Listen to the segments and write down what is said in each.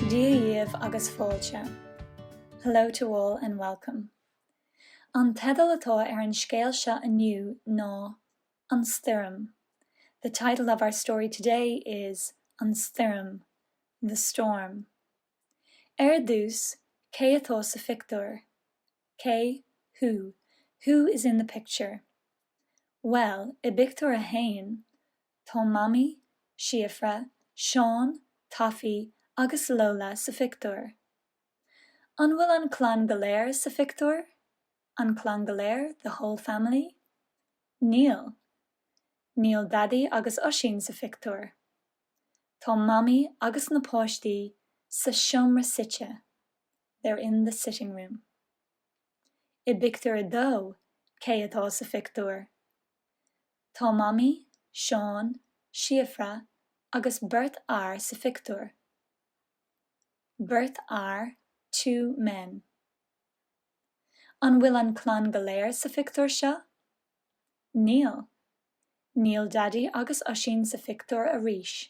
Dia dhíobh agus fáilte, Hello to all and welcome. An teideal atá ar an scéal seo inniu ná An Stoirm, The title of our story today is An Stoirm, The Storm. Ar dtús, cé atá sa phictiúr? Cé, who? Who is in the picture? Bhuel, i bpictiúr a haon, tá Mamaí, Síofra, Seán, Taffy, agus Lola sa phictiúr. An bhfuil an clann go léir sa phictiúr? An clann go léir, the whole family? Níl. Níl Daidí agus Oisín sa phictiúr. Tá Mamaí agus na páistí sa seomra suite. They're in the sitting room. I bpictiúr a dó, cé atá sa phictiúr? Tá Mamaí, Seán, Síofra agus beirt fhear sa phictiúr. Beirt fhear, two men. An bhfuil an clann go léir sa phictiúr seo? Níl. Níl Daidí agus Oisín sa phictiúr arís.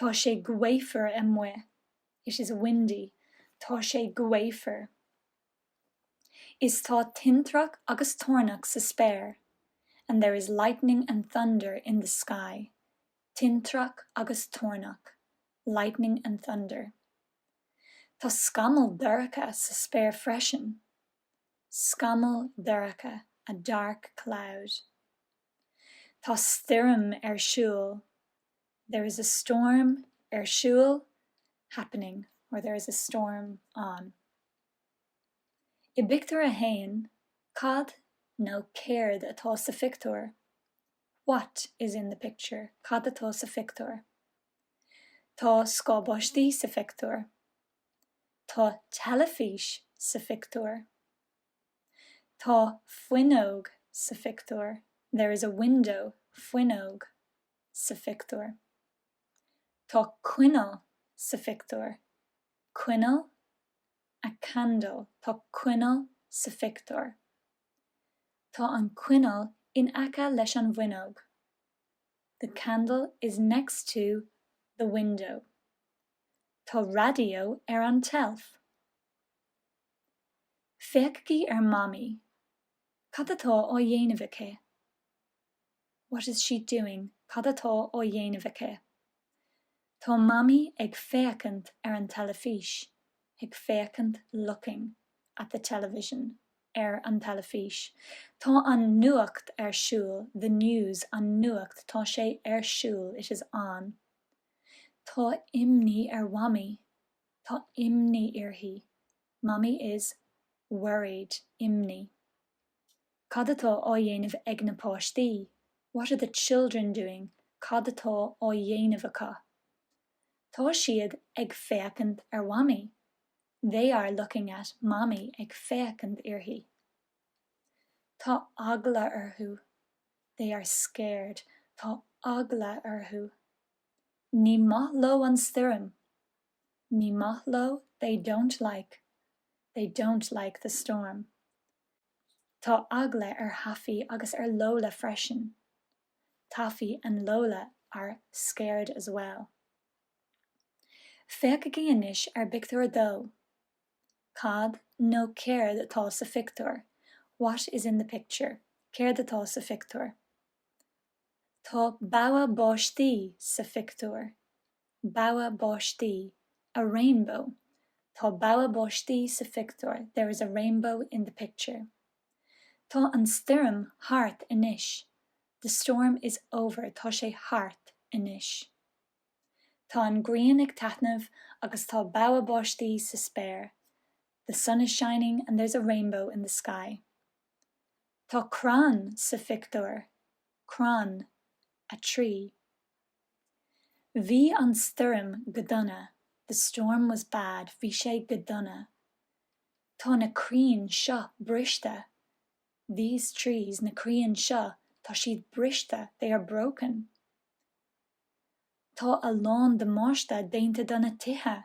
Tá sé gaofar amuigh. It is windy. Tá sé gaofar. Is tá tintreach agus toirneach sa spéir. And there is lightning and thunder in the sky. Tintreach agus toirneach. Lightning and thunder. Tá scamall dorcha sa spéir freisin. Scamall dorcha, a dark cloud. Tá stoirm ar siúl, there is a storm ar siúl, happening, or there is a storm on. I bpictiúr a haon, cad nó céard atá sa phictiúr? What is in the picture? Cad atá sa phictiúr? Tá scáth baistí sa phictiúr. Tá teilifís sa phictiúr. Tá fuinneog sa phictiúr. There is a window, fuinneog, sa phictiúr. Tá coinneal sa phictiúr. Coinneal, a candle, tá coinneal sa phictiúr. Tá an coinneal in aice leis an bhfuinneog. The candle is next to the window. Tá raidió ar an tseilf. Féachaigí ar Mamaí. Cad atá á dhéanamh aici? What is she doing? Cad atá á dhéanamh aici? Tá Mamaí ag féachaint ar an teilifís. ag féachaint looking at the television ar an teilifís. Tá an nuacht ar siúl the news an nuacht tá sé ar siúl it is on Tá imní ar Mhamaí. Tá imní uirthi. Mammy is worried. Imní. Cad atá á dhéanamh ag na páistí? What are the children doing? Cad atá á dhéanamh acu? Tá siad ag féachaint ar Mhamaí. They are looking at Mammy. Ag féachaint uirthi. Tá eagla orthu. They are scared. Tá eagla orthu. Ní maith leo an stoirm. Ní maith leo They don't like They don't like the storm. Tá eagla ar Thaffy agus ar Lola freisin. Taffy and Lola are scared as well. Féachaigí anois ar phictiúr a dó. Cad, nó céard, atá sa phictiúr? What is in the picture? Céard atá sa phictiúr? Tá bogha báistí sa phictiúr. Bogha báistí. A rainbow. Tá bogha báistí sa phictiúr, there is a rainbow in the picture. Tá an stoirm thart anois, the storm is over. Tá sé thart anois. Tá an ghrian ag taitneamh agus tá bogha báistí sa spéir, the sun is shining and there's a rainbow in the sky. Tá crann sa phictiúr, Crann, a tree. Bhí an stoirm go dona, The storm was bad. Bhí sé go dona. Tá na crainn seo briste, These trees. Na crainn seo, tá siad briste, They are broken. Tá a lán damáiste déanta do na tithe.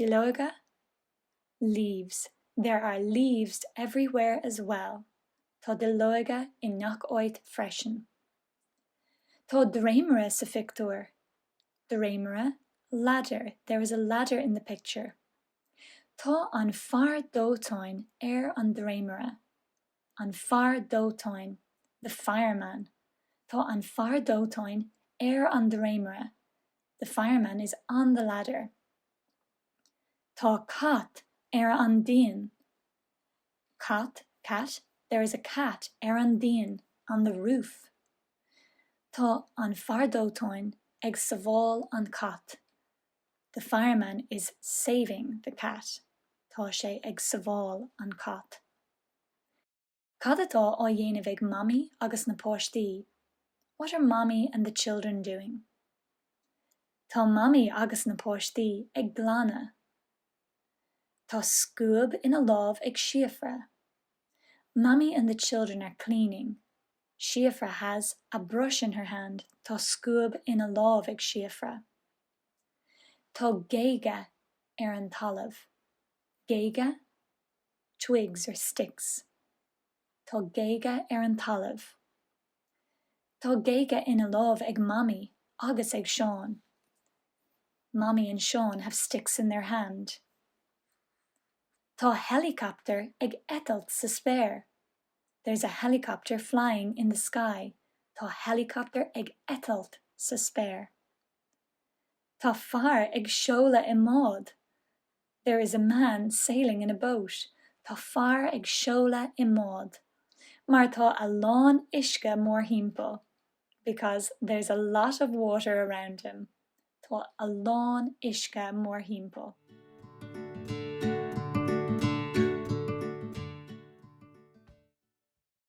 Duilleoga? Leaves. There are leaves everywhere as well, Tá duilleoga i ngach áit freisin. Tá dréimire sa phictiúr. Dréimire? Ladder. There is a ladder in the picture, Tá an fear dóiteáin ar an dréimire. An Fear Dóiteáin, The Fireman Tá an fear dóiteáin ar an dréimire, The fireman is on the ladder. Tá cat ar an díon, cat, cat, There is a cat ar an díon, on the roof. Tá an fear dóiteáin ag sábháil an cat, The fireman is saving the cat. Tá sé ag sábháil an cat. Cad atá á dhéanamh ag Mamaí agus na páistí? What are Mommy and the children doing? Tá Mamaí agus na páistí ag glanadh. Tá scuab ina lámh ag Síofra. Mommy and the children are cleaning. Síofra has a brush in her hand. Tá scuab ina lámh ag Síofra. Tá géaga ar an talamh. Géaga? twigs or sticks. Tá géaga ar an talamh. Tá géaga ina lámh ag Mamaí agus ag Seán. Mommy and Seán have sticks in their hand. Tá heileacaptar ag eitilt sa spéir. There's a helicopter flying in the sky. Tá heileacaptar ag eitilt sa spéir. Tá fear ag seoladh i mbád. There is a man sailing in a boat, tá fear ag seoladh i mbád, mar tá a lán uisce mórthimpeall. Because there's a lot of water around him, tá a lán uisce mórthimpeall.